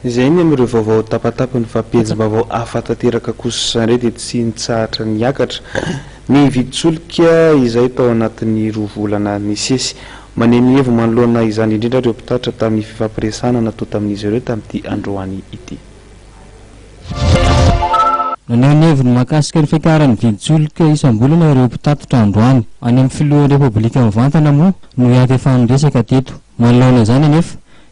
Izay ny amin'ireo vaovao tapatapany fa pejim-baovao hafa tanteraka kosa indray dia tsy nitsahatra niakatra ny vidin-tsolika izay tao anatin'ny roa volana nisesy. Maneho ny hevi manoloana izany indrindra ireo mpitatitra tamin'ny fifampiresahana natao tamin'izy ireo tamin'ity androany ity. Naneho ny heviny mahakasika ny fiakaran'ny vidin-tsolika isam-bolana ireo mpitatitra androany. Any amin'ny filohan'ny Repoblika mivantana moa no hiantefan'ny resaka teto. Manoloana izany anefa,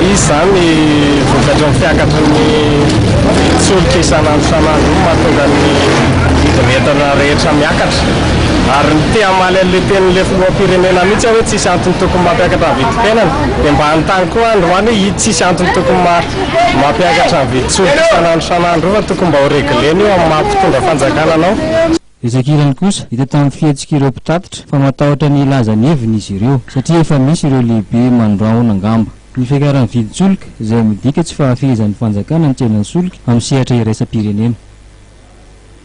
Izy izany vokatry ny fiakatry ny vidin'ny solika isan'andro isan'andro io no mahatonga ny vidin'entana rehetra miakatra. Ary ny te-hamaly an'ilay tenin'ilay filoham-pirenena mihitsy aho hoe tsisy antony tokony mampiakatra ny vidim-piainana. Dia mba hanontany koa aho androany hoe io tsisy antony tokony mampiakatra ny vidin-tsolika isan'andro isan'andro io fa tokony mba ho regler-na io amin'ny maha mpitondra fanjakana anao. Betsaka ilany kosa hita tamin'ny fihetsik'ireo mpitatitra fa matahotra ny hilaza ny heviny izy ireo, satria efa misy ireo lehibe mandrahona angamba. Ny fiakaran'ny vidin-tsolika, izay midika tsy fahafehezan'ny fanjakana ny tsenan'ny solika amin'ny sehatra iraisam-pirenena.